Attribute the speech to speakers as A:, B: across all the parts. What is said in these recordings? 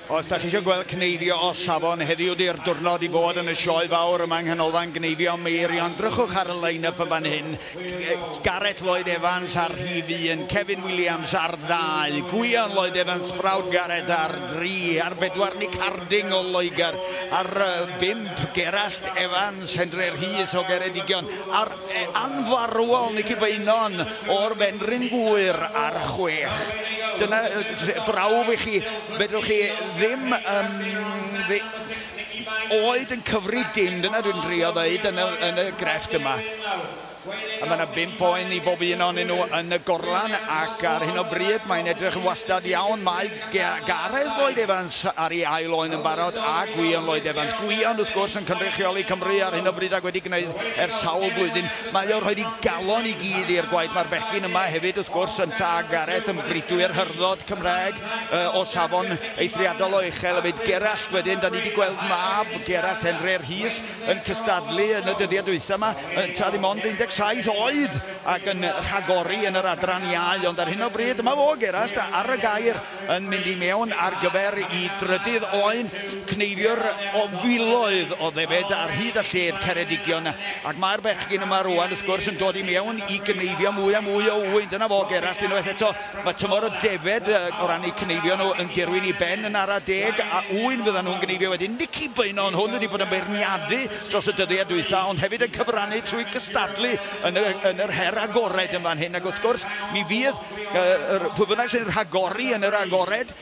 A: Os da chi eisiau gweld cneifio o safon, heddiw di'r diwrnod i fod yn y sioe fawr yma yng Nghanolfan Gneifio Meirion. Drychwch ar y line-up yn fan hyn. Gareth Lloyd Evans ar rhif 1, Kevin Williams ar 2, Gwion Lloyd Evans, Frawd Gareth ar 3, ar 4 Nick Harding o Loegr, ar 5 Gerallt Evans, Henry Rhys o Geredigion, ar anfarwol Nici Beynon o'r Fenrhyn Gŵyr ar 6. Dyna brawf i chi, fedrwch chi ddim um, oed yn cyfri dim, dyna dwi'n drio ddeud yn y, yn y grefft yma. A mae yna bimp oen i bob un o'n nhw yn y gorlan ac ar hyn o bryd mae'n edrych yn wastad iawn. Mae Gareth Lloyd Evans ar ei ail oen yn barod, a Gwion Lloyd Evans. Gwion, wrth gwrs, yn cynrychioli Cymru ar hyn o bryd ac wedi gwneud ers sawl blwyddyn. Mae o rhoid ei galon i gyd i'r gwaith. Mae'r bechgyn yma hefyd, wrth gwrs, yntau a Gareth, yn bridwyr hyrddodd Cymraeg o safon eithriadol o uchel hefyd. Gerallt wedyn, da ni wedi gweld mab Gerallt, Henre Rhys, yn cystadlu yn y dyddiau dwytha 'ma, yntau, ddim ond 17 oed! ac yn rhagori yn yr adran iau, ond ar hyn o bryd mae Og Erallt ar y gair yn mynd i mewn ar gyfer i drydydd oen, cneifio'r o filoedd o ddefed ar hyd a lled Ceredigion, ac mae'r bechgyn yma rwan wrth gwrs yn dod i mewn i gneifio mwy a mwy o ŵyn, dyna fo Og Erallt unwaith eto, mae tymor y defed o ran eu cneifio nhw yn dirwyn i ben yn ara deg, a ŵyn fyddan nhw'n gneifio wedyn, Nici Beynon hwn wedi bod yn beirniadu dros y dyddiau dwytha ond hefyd yn cyfrannu trwy gystadlu yn y, yn yr her agored yn fan hyn, ac wrth gwrs, mi fydd uh, pwy bynnag sy'n rhagori yn yr agored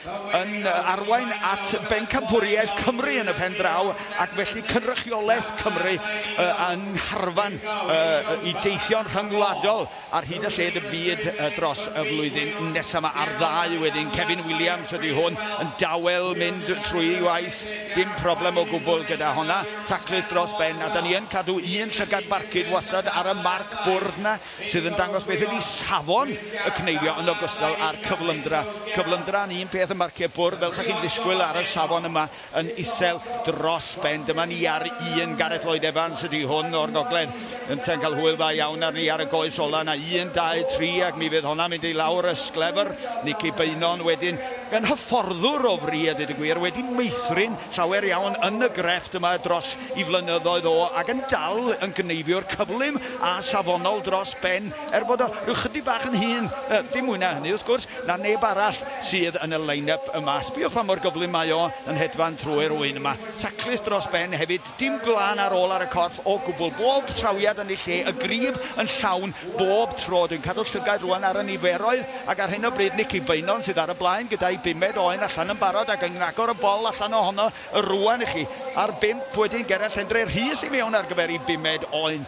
A: yn arwain at bencampwriaeth Cymru yn y pen draw, ac felly cynrychiolaeth Cymru uh, yng ngharfan uh, i deithio'n rhyngwladol ar hyd y lled y byd uh, dros y flwyddyn nesaf yma ar ddau wedyn. Kevin Williams ydy hwn yn dawel mynd trwy ei waith, dim problem o gwbl gyda honna. Taclus dros ben, a 'da ni yn cadw un llygad barcud wastad ar y marc bwrdd 'na sydd yn dangos beth ydi safon y cneifio yn ogystal â'r cyflymdra. Cyflymdra yn un peth ym marciau bwrdd, fel 'sa chi'n ddisgwyl ar y safon yma yn isel dros ben. Dyma ni ar un, Gareth Lloyd Evans ydi hwn o'r gogledd ynta'n cael hwyl dda iawn arni ar y goes ola 'na. Un, dau, tri, ac mi fydd honna'n mynd i lawr y sglefr. Nici Beynon wedyn, yn hyfforddwr o fri a deud y gwir, wedi meithrin Llawer iawn yn y grefft yma dros i flynyddoedd o ac yn dal yn gyneifiwr cyflym a safonol dros ben er bod o rhyw chydig bach yn hŷn, dim mwy na hynny wrth gwrs, na neb arall sydd yn y line-up yma. Sbïwch pa mor gyflym mae o yn hedfan trwy'r ŵyn yma. Taclus dros ben hefyd, dim gwlân ar ôl ar y corff o gwbl. Bob trawiad yn ei lle, y grib yn llawn bob tro. Dwi'n cadw llygaid rŵan ar y niferoedd. Ac ar hyn o bryd Nicky Beynon sydd ar y blaen gyda'i bumed oen allan yn barod ac yn agor y bol allan ohono rŵan i chi. Ar bump wedyn Gerallt Endre Rhys i mewn ar gyfer ei bumed oen.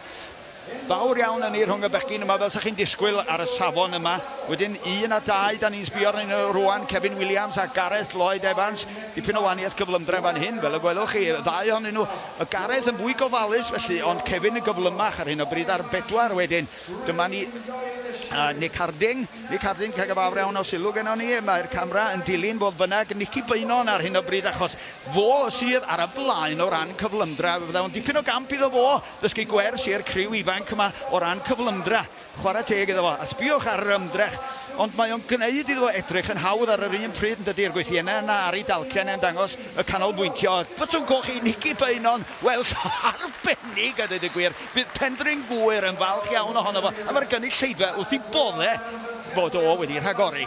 A: Fawr iawn ynni rhwng y bechgyn yma fel 'sa chi'n disgwyl ar y safon yma. Wedyn un a dau 'da ni'n sbio arnyn nhw rŵan, Cefin Williams a Gareth Lloyd Evans. Dipyn o waniaeth cyflymdra fan hyn fel y gwelwch chi, y ddau ohonyn nhw. Oedd Gareth yn fwy gofalus felly ond Cefin yn gyflymach ar hyn o bryd ar bedwar wedyn. Dyma ni. A, Nick Harding. Nick Harding, ca' gyfafr iawn o sylw gennon ni. Mae'r camra yn dilyn, fodd bynnag, Nici Beynon ar hyn o bryd achos fo sydd ar y blaen o ran cyflymdra. Fe fydda fo'n dipyn o gamp iddo fo ddysgu gwers i'r criw ifanc yma o ran cyflymdra. Chwarae teg iddo fo. A sbïwch ar yr ymdrech. Ond mae o'n gneud iddo fo edrych yn hawdd ar yr un pryd, yndydi, yr gwythienne yna ar ei dalcen e'n dangos y canolbwyntio. Botwm coch i Nici Beynon. Wel, arbennig a deud y gwir. Bydd Penfryn Gŵyr yn falch iawn ohono fo a mae'r gynulleidfa wrth ei boddau fod o wedi rhagori.